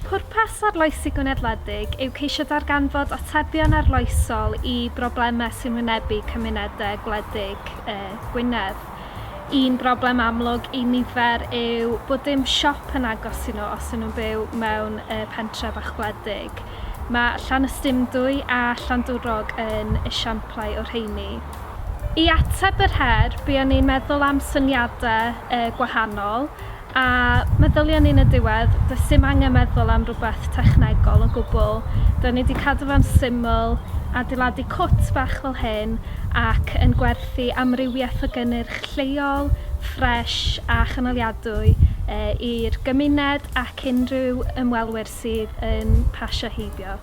Pwrpas Arloesi Gynadleddig yw ceisio darganfod atebion arloesol i broblemau sy'n wynebu cymunedau gwledig Gwynedd. Un broblem amlwg i nifer yw bod dim siop yn agos i nhw os yw nhw'n byw mewn pentref fach gwledig. Mae Llanystumdwy a Llandwrog yn esiamplau o'r rheini. I ateb yr her, buon ni'n meddwl am syniadau gwahanol A meddylia ni yn y diwedd, does dim angen meddwl am rhywbeth technegol o gwbl, rydyn ni wedi cadw fe'n syml, adeiladu cwt bach fel hyn ac yn gwerthu amrywiaeth o gynnyrch lleol, ffresh a chynaliadwy i'r gymuned ac unrhyw ymwelwyr sydd yn pasio heibio.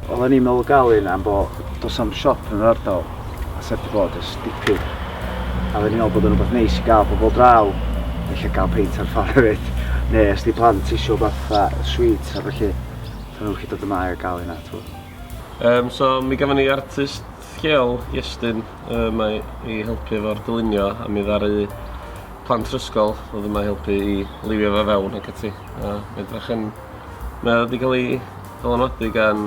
Oddan ni'n meddwl gal un am bo dos am siop yn yr ardal a sef di bod ers dipyn a fe ni'n meddwl bod yn rhywbeth neis i gael pobl draw felly gael peint ar ffordd hefyd neu os di plant eisiau rhywbeth fatha sweets a felly so nhw'n gallu dod yma a gael hynna twyd. Um, so mi gafon ni artist lleol Iestyn um, i helpu efo'r dylunio a mi ddaru plant rysgol oedd yma helpu i liwio fe fewn ac ati. A mae'n drach yn Mae o 'di ga'l 'i ddylanwadu gan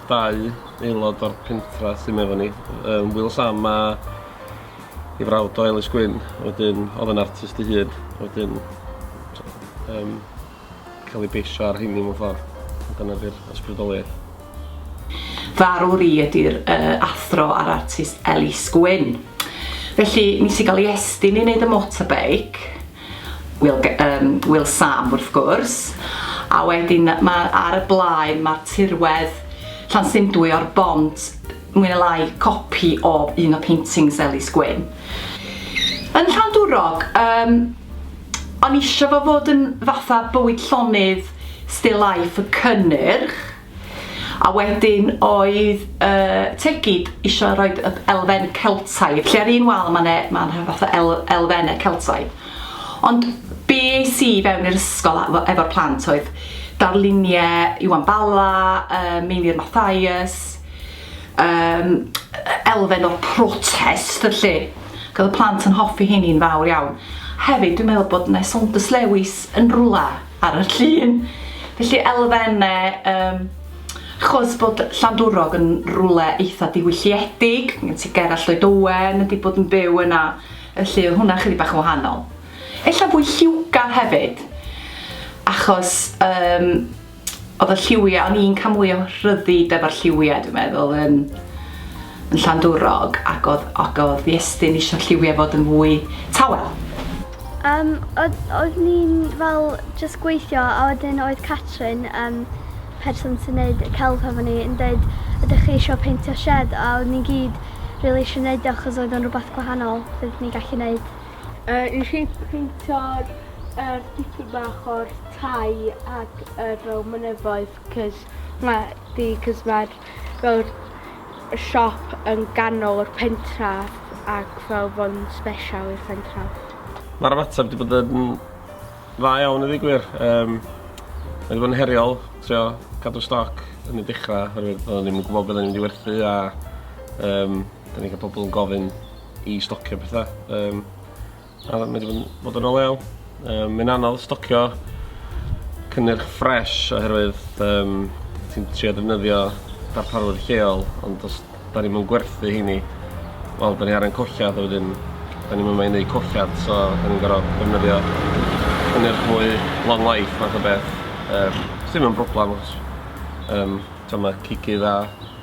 dau aelod o'r pentra sy 'ma efo ni yym Wil Sam a 'i frawd o Elis Gwyn a wedyn o'dd yn artist 'i hun a wedyn t'o' yym ca'l 'i beisio ar rheiny mewn ffor. A dyna 'di'r ysbrydoliaeth. Farw ri ydy'r uh, athro a'r artist Elis Gwyn. Felly, nes i gael ei estyn i wneud y motorbike, Will, um, Will Sam wrth gwrs, a wedyn ma, ar y blaen mae'r tirwedd Llansyndwy o'r bont mwy na lai copi o un o paintings Elis Gwyn. Yn Llandwrog, um, O'n isio fo fod yn fatha bywyd llonydd, still life, y cynnyrch. A wedyn oedd y tegid isio rhoi y elfen Celtaidd, lle ar un wal mae'n e, ma fatha el, elfennau Celtaidd. Ond be es i fewn i'r ysgol efo'r plant oedd darluniau Iwan Bala, uh, Meinir Mathias, um, elfen o'r protest, lle. Roedd y plant yn hoffi heini'n fawr iawn. Hefyd dwi'n meddwl bod 'na Saunders Lewis yn rwla ar y llun. Felly elfenne um, chos bod Llandwrog yn rwle eitha diwylliedig, gen ti Gerallt Lloyd Owen wedi bod yn byw yna, felly oedd hwnna chydig bach yn wahanol. Ella fwy lliwgar hefyd, achos um, Oedd y lliwiau, o'n i'n cael mwy o rhyddid efo'r lliwiau dwi'n meddwl yn, yn Llandwrog ac oedd, ac oedd Iestyn eisiau lliwiau fod yn fwy tawel. Um, oedd, oedd ni'n fel just gweithio a wedyn oedd Catrin, um, person sy'n neud y celf hefo ni, yn dweud ydych chi eisiau peintio shed a oedd ni'n gyd rili really eisiau neud o achos oedd o'n rhywbeth gwahanol fydd ni'n gallu neud. Yy nes i peintio'r yr dipyn bach o'r tai ac yr fel mynyddoedd 'c'os ma' 'di 'c'os ma'r fel y siop yn ganol y pentref ac fel bo'n sbesial i'r pentref. Ma'r ymateb 'di bod yn dda iawn i ddeu gwir yym ma' 'di bod yn heriol trio cadw stoc yn y dechra oherwydd odden ni'm yn gwbo be' odden ni mynd i werthu a yym 'dyn ni ca'l pobol yn gofyn i stocio pethau. Um, a mae wedi bod yn o lew. Um, Mae'n anodd stocio cynnyrch ffres oherwydd um, ti'n trio defnyddio darparwyr lleol, ond os da ni'n mynd gwerthu heini, wel, da ni ar ein collad, a wedyn, da ni'n mynd i wneud collad, so da ni'n gorfod defnyddio cynnyrch mwy long life, fath o beth. Um, Sdim yn broblem, achos um, mae cicydd a